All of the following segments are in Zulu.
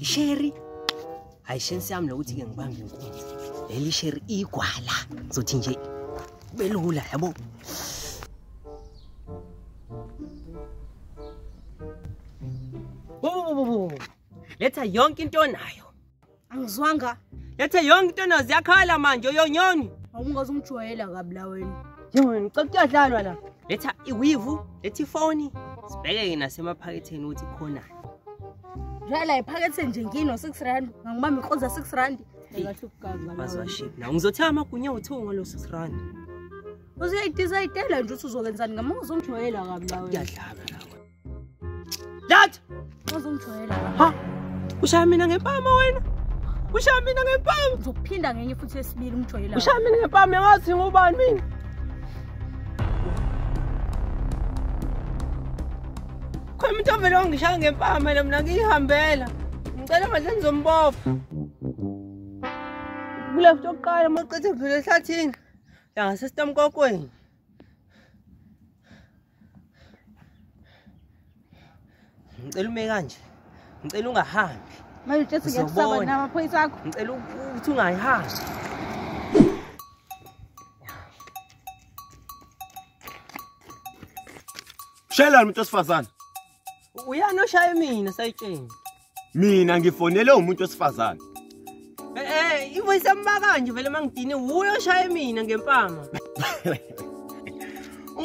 isheri hayi shensi yami lokuthi-ke ngibambe inkunzi leli sheri igwala zothi nje belula yabo letha yonke into onayo angizwanga lethe yonke into nazi yakhala manje uyonyoni awungaze ungijwayela kabi la wena yona ucela kuyadlalwa la letha iwivu letha ifoni sibheke-ke nasemaphaketheni ukuthi khonani dlala iphakethe nje ngino six rand ngangibamba inkoza six rand bazwaship na ngizothi amagunya uthiwo ngalo six rand uzoyidizayidela nje ukuthi uzokenzani ngama uzongijwayela kabi la wena kuyadlala That. Uzongijwayela. Ha. Ushaya mina ngempama wena. Ushaya mina ngempama. Uzophinda ngenye futhi esibili umjwayela. Ushaya mina ngempama ngathi ngubani mina. Khona umuntu ovele wangishaya ngempama yena mina ngiyihambela. Ngicela manje ngizombopha. Kule futhi oqala maqethe kudlule ehlathini. Yangasesitamkokweni. ngicela ume kanje ngicela ungahambi manje uthi ngiyakusaba namaphoyisa akho ngicela ukuthi ungayihambi shayelani umuntu wesifazane uyani oshaye mina sayitsheni mina ngifonele umuntu wesifazane eh, eh ivoice yamba kanje vele mangidini wuyo oshaye mina ngempama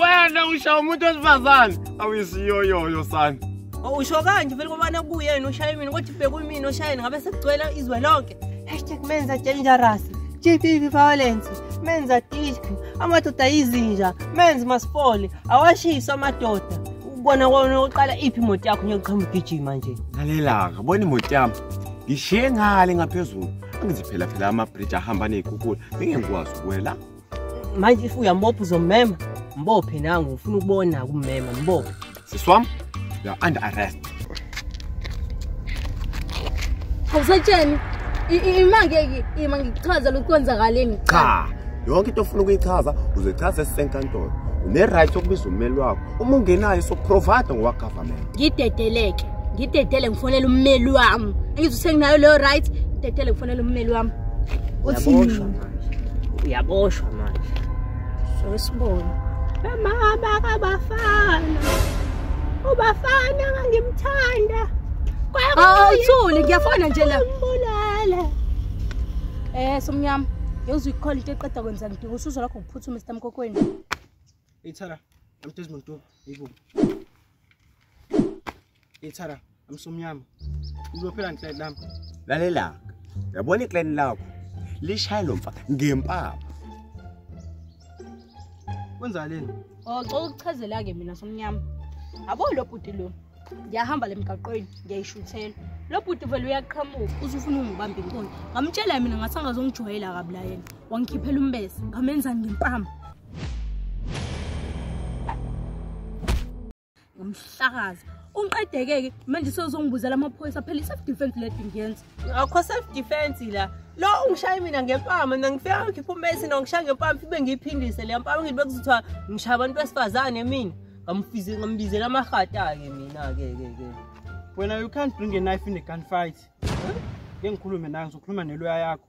wena usha umuntu wesifazane awisiyoyoyo sana oh, usho kanje vele kobana kuyena ushaye mina kodwa bekuyimina oshaye ngabe sekugcwela izwe lonke hashtag menza dangerous GBV violence menza disk amadoda yizinja menzi masifole awashiswa amadoda Ubona kona uqala iphi imoto yakho ngiyochoma ugijima nje. Ngalelaka, bona imoto yami. Ngishiye ngale ngaphezulu. Angithi phela phela ama bridge ahamba nezikhukhula. Ngingekwazi ukwela. Manje if uyambopha uzomema. Mbophe nangu ufuna ukubona kumema mbophe. Siswam, you are under arrest. awusatsheni ima ngeke ima ngichaza lokhu kwenzakaleni cha yonke into ofuna ukuyichaza uzoyichaza esisenkantolo une-right yokubiza ummeli wakho uma ungenayo sokuprovide ngowagovernment ngidedeleke ngidedele ngifonele ummeli wami angithi usenginayo leyo right ngidedele ngifonele ummeli wami uthi uyaboshwa manje sibone bamama kabafana ubafana ngangimthanda awuthuli ah, ngiyafona nje la mbulala eh somnyama yozwe ikhona into eqeda kwenza ngidinga usuzo lakho kuphuthu Mr Mkokweni ithara amtezi muntu ibu Ithara amsomnyama. Uzophela nhle lami. Lalela. Yabona iclan lakho. Lishaya lo mfa ngempama. Kwenza leni? Oh, cela ukuchazela ke mina somnyama. Abo lo bhuti lo. Ngiyahamba lemgaqweni, ngiyayishuthela. Lo bhuti vele uyaqhamuka, uzufuna ungibamba inkonzo. Ngamtshela mina ngathi angazongijwayela kabi la yena. Wangikhiphela umbese, ngamenza ngempama. ngomhlakazi ungiqedeke-ke manje sewuzongibuzela amaphoyisa phela i-self defense ledi ngiyenza akho self defense la lo ungishaye mina ngempama mina ngifika ngikhipha umesi nongishaya ngempama ibe ngiyiphindise leyo mpama ngithi bekuzithiwa ngishaya abantu besifazane mina ngambizela amahata-ke mina-ke ke ke wena you can't bring a knife in a gun fight ke ngikhulume nayo ngizokhuluma neloya yakho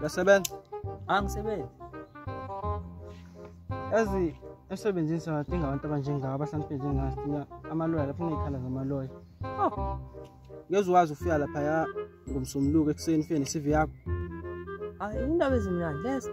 Uyasebenza? Angisebenzi. Yazi emsebenzini siwadinga abantu abanjengawo abahlaniphile njengathi amaloya lapho ngiyikhala ngamaloya. Oh. Ngeze wazi ufika lapha ya ngomsomluko ekuseni ufike ne-CV yakho. Hayi indaba ezimnandi lezo.